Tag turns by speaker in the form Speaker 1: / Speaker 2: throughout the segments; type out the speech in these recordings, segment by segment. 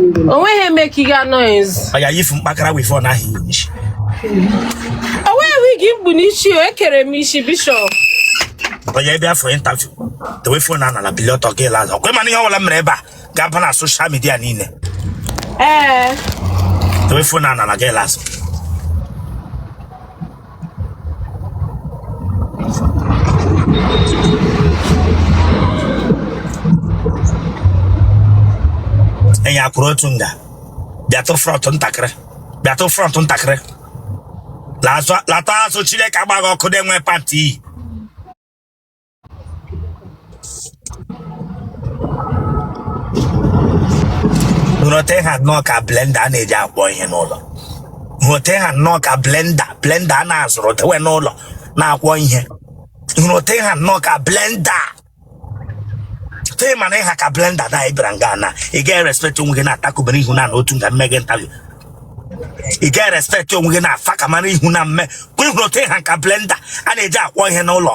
Speaker 1: onweghị eme ka ị ga noise ọya yifu mkpakara
Speaker 2: wivọn ahụ i ji onweghị
Speaker 1: wigi m kpu n'isi o ekere m isi bishọp ọya
Speaker 2: ị bịa for interview dewe fon a n'ala bili ọtọ gị laa azụ ọkwa ị ma na ihe ọbụla mere ebe a ga-aba na soshal midia niile ee dewe fon a n'ala gị laa azụ enyi a kwụrụ otu nga bịatụ frọnt ntakịrị bịatụ frọnt ntakịrị Lazụ- lata azụ chineke agba gị ọkụ na-enwe pati iyi nee otu ị ha nnọọ ka blenda a na-eji akwọ ihe n'ụlọ nee otu ị ha nnọọ ka blenda blenda a na-azụrụ dewe n'ụlọ na-akwọ ihe nee otu ị ha nnọọ ka blenda tụtụ ị ma na ị ha ka blenda na ị bịara nga na ị gaghị respekt onwe gị na-atakụbere ihu na otu nga mme gị ntabi ị gaghị respekt onwe gị na afa ka mara ihu na mme kwa ị hụ otu ị ha ka blenda a na-eji akwọ ihe n'ụlọ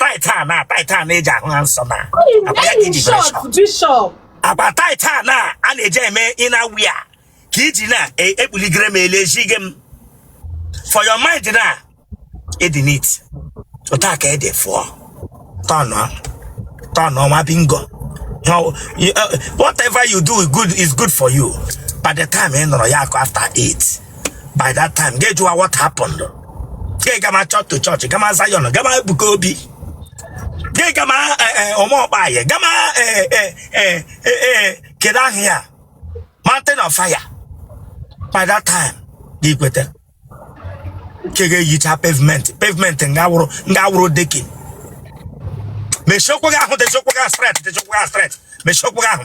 Speaker 1: tight a
Speaker 2: na tight a
Speaker 1: na-eji ahụ ha nsọ na agba
Speaker 2: tight a na a na-eji eme inner wear ka i ji na-ekpuligere e, m ele ejighi m for your mind na ị dị neat otu a ka ede fụọ turn turn nwa bingo uh, whatever you do is good for you by the time ị nọrọ ya akụ after eight by that time gị jụwa what happened gị gama church to church gama Zion gama Ebuka Obi gị gama Uma Ukpai gama kedu aha ya mountain of fire by that time gị kweta ka ga-eyicha pavement pavement nga wụrụ nga wụrụ decking mechie ụkwụ gị ahụ dechie ụkwụ gị ahụ straight dechie ụkwụ gị ahụ straight mechie ụkwụ gị ahụ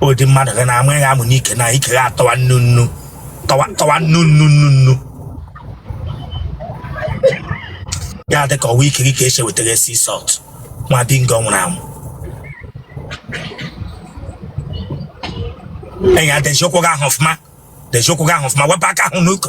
Speaker 2: ụdị mmadụ gị na-ama ya amụ n'ike na ike ya atọwa nnu nnu tọwa tọwa nnu nnu nnu nnu ya dị ka ọ wụ ike gị ka e si wetara sea salt nwa bingo nwụrụ anwụ enyi a deji ụkwụ gị ahụ ọfụma deji ụkwụ gị ahụ ọfụma wepụ aka ahụ n'oke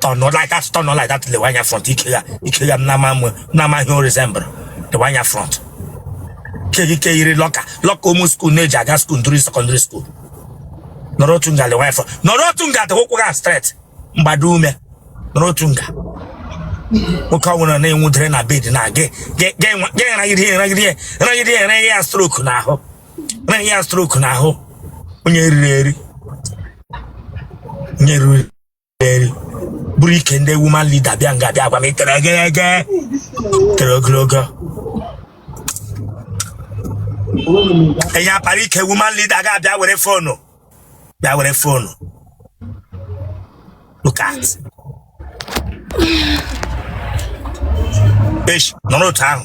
Speaker 2: turn not like that turn not like that lewe anya front ike ya ike ya m na-ama mụ na-ama ihe o resemble lewe anya front keghị ike yiri lọka lọka ụmụ skuul na-eji aga skuul ndụrụ sekọndịrị skuul nọrọ otu nga lewe anya front nọrọ otu nga dị ụkwụ gị a straight mgbado ume nọrọ otu nga nwoke ọ bụla na-enwudere na bed na gị gị gị nragide nragide nragide nragide ya stroke n'ahụ mere ya stroke n'ahụ onye riri eri onye riri eri buru ike ndị woman leader bịa nga bịa gwa m itere egege tere ogologo enye apara ike woman leader ga-abịa were phone bịa were phone look at esh nọrọ otu ahụ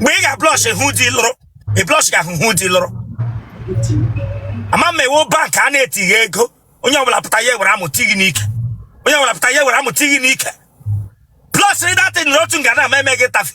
Speaker 2: mgbe ị ga-ablush hụ di lụrụ ị blush ga-ahụ di lụrụ ama m ị wụ bank a na-etiga ego onye ọbụla pụta ya ewere amụ ti gị n'ike onye ọbụla pụta ya ewere amụ ti gị n'ike blush rịdata nọrọ otu nga na-ama eme gị tafe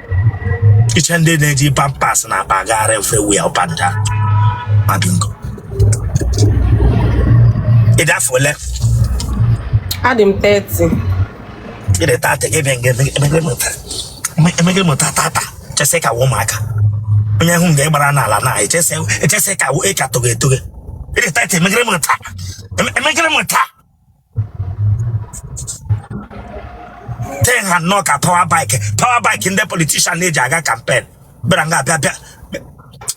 Speaker 2: iche ndị na-eji pampers na-agbagharị everywhere up and down ma bingo ị dị afọ ole
Speaker 1: adị m 30 ị dị
Speaker 2: tata gị bịa nga emegị mụta emegị mụta tata chesị ka wụ ụmụaka onye hụ nga ị gbara n'ala na echesị echesị ka wụ ị ka tụghị etụghị ị dị tata emegịrị mụta emegịrị mụta ten ha nnọọ ka power bike power bike ndị politician na-eji aga campaign bịara nga abịa bịa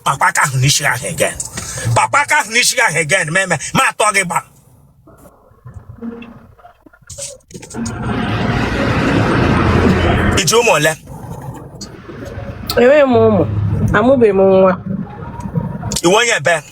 Speaker 2: kpakpa aka ahụ n'isi ahụ again kpakpa aka ahụ n'isi ahụ again ma eme ma atọ gị gba ị ji ụmụ ole
Speaker 1: enweghị m ụmụ amụbeghị m nwa
Speaker 2: ị wụ onye ebee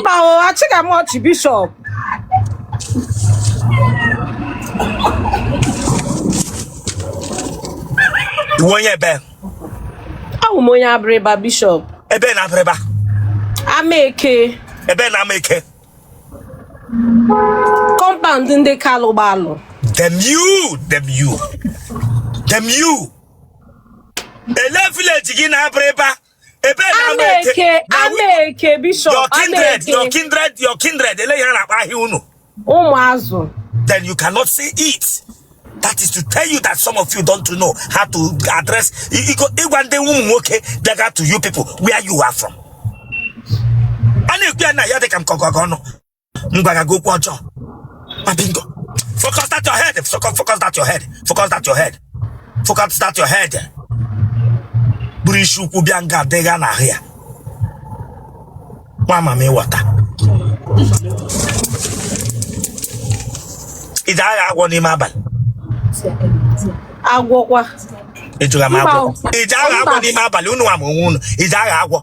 Speaker 1: mba o achịga m ọchị
Speaker 2: bishop ị wụ onye ebee awụ
Speaker 1: m onye Abịrịba bishop ebee na Abịrịba Amaeke ebee na
Speaker 2: Amaeke
Speaker 1: compound ndị Kalụ gbalụ damn
Speaker 2: you damn you damn you ele village gị na Abịrịba ebee na Amaeke Amaeke, na wi-
Speaker 1: Amaeke, your Bishop, kindred your Amaeke,
Speaker 2: kindred your kindred ele ihe a na-akpọ aha unu ụmụazụ. then you cannot say it that is to tell you that some of you don't know how to address i- i- ịgwa ndị ụmụ nwoke bịaga to you people where you are from a na-ekwu ya na ya dị ka m kọga gị ọnụ m gwara gị okwu ọjọọ ma bingo focus that your head focus focus that your head focus that your head focus that your head buru isi ukwu bịa nga adịgha n'ahụ ya nwa mami water ị ji aghọ agwọ n'ime
Speaker 1: abalị agwọkwa ejula m agwọ Mba. ị ji aghọ agwọ Mba. n'ime abalị unu ama onwe unu ị ji aghọ agwọ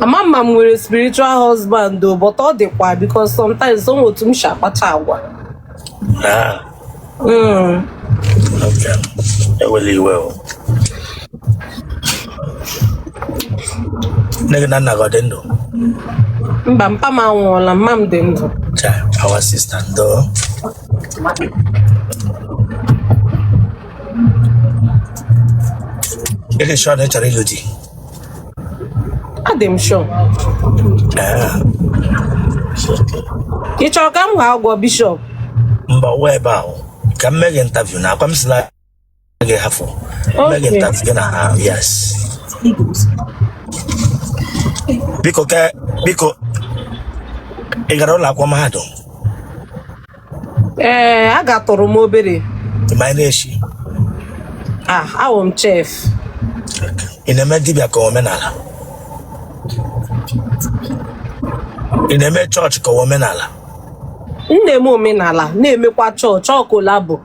Speaker 1: ama m ma m nwere spiritual husband o but ọ dịkwa because sometimes o nwe otu m si akpacha
Speaker 2: agwa Ah, Mm. okay. Ewela iwe o. Nne gị na nna gị ọ dị ndụ?
Speaker 1: mba mpa m anwụọla mma m dị ndụ Cha, our
Speaker 2: sister ndo. Ị dị sure na ị chọrọ ịlụ di?
Speaker 1: adị m sure ị chọrọ ka m ghọọ agwọ bishop mba ụwa
Speaker 2: ebe ahụ ka m mee gị interview now akwa m si na gị hafụ mee gị Okay. interview gị na ha yes biko ke biko ị gara ụlọ akwụkwọ mahadum
Speaker 1: ee agatụrụ m obere m na-eshi ah awụ m chef
Speaker 2: ị na-eme dibịa ka omenala ị na-eme chọọchị ka omenala m
Speaker 1: na-eme omenala na-emekwa chọọchị ọ collabo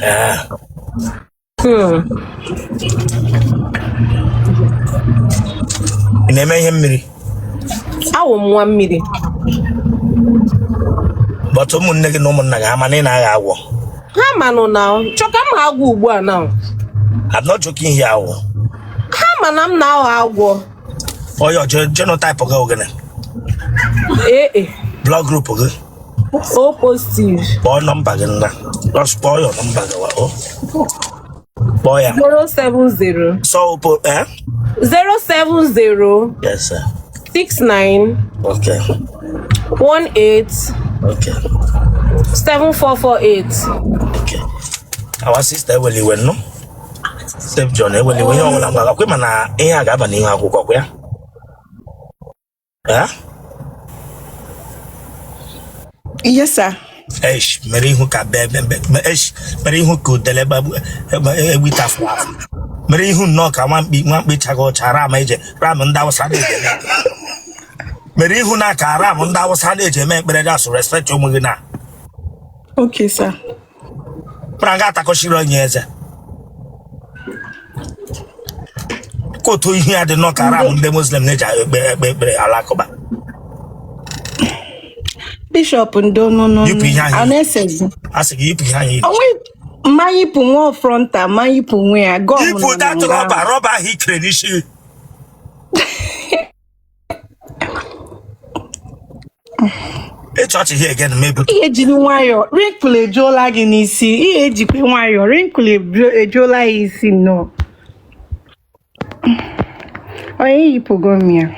Speaker 1: Ee.
Speaker 2: Hmm. ị na-eme ihe mmiri awụ
Speaker 1: m nwa mmiri
Speaker 2: but ụmụnne gị na ụmụnna gị ama na ị na-aghọ agwọ ha
Speaker 1: manụ now chọọ ka m ghọọ agwọ ugbu a now I'm
Speaker 2: not joking here agwọ
Speaker 1: ha ma na m na-aghọ agwọ oya
Speaker 2: genotype gị ọ gịnị AA. blood group gị
Speaker 1: o positive kpọọ nọmba
Speaker 2: gị now just kpọọ ya nọmba gị wa o kpọọ ya
Speaker 1: 070 sọ opo eh 070
Speaker 2: yes sir
Speaker 1: 69 okay 18 okay 7448
Speaker 2: okay our sister ewela iwe ị nụ Steve John ewela iwe ihe ọbụla mgbaga kwe mana ihe a ga-aba n'ihu akwụkwọ kwa ya
Speaker 3: Ha? Yes, sir. Esh,
Speaker 2: mere ihu ka be be be me- esh, mere ihu ka udele gbagbu egbita afọ afọ. Mere ihu nnọọ ka nwa mkpi nwa mkpi chaga ọcha ram e ji ram ndị awụsa na-eji eme. Mere ihu nnọọ ka ram ndị awụsa na-eji eme ekpere na asụ respect onwe gị
Speaker 3: now. Okay, sir.
Speaker 2: mara nga atakọchiri onye eze kotu ihu ya dị nnọọ ka ram ndị muslim na-eji ekpe ekpe ekpere alakụba
Speaker 3: bishop ndị ọnụnụ Yipụ ihe anyị. a
Speaker 2: na-esezi
Speaker 3: a sị
Speaker 2: gị yipụ ihe ahụ i yiri. onwe mma
Speaker 3: yipụ nwa frontal ma yipụ nwe ya gọọ m yipụ nọ na datụ nga rọba
Speaker 2: ahụ. rọba ahụ i kere n'isi ịchị ọchị here again maybe ihe jiri
Speaker 3: nwayọọ wrinkle ejuola gị n'isi ihe ejikwe nwayọọ wrinkle eju- ejuola ya isi nnọọ onye yipụgo m
Speaker 2: ya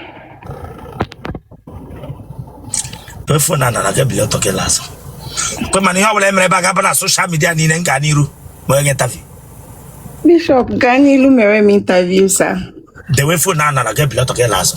Speaker 2: fon n'ana na gị bilie ọtọ gị laa azụ kwe mana ihe ọbụla emere ebe a ga-aba na social media niile m gaa n'iru ma onye gị interview Bishop
Speaker 3: gaa
Speaker 2: n'ilu mere m interview
Speaker 3: sir. Dewe
Speaker 2: fon n'ana na gị
Speaker 3: ebili ọtọ
Speaker 2: gị laa azụ.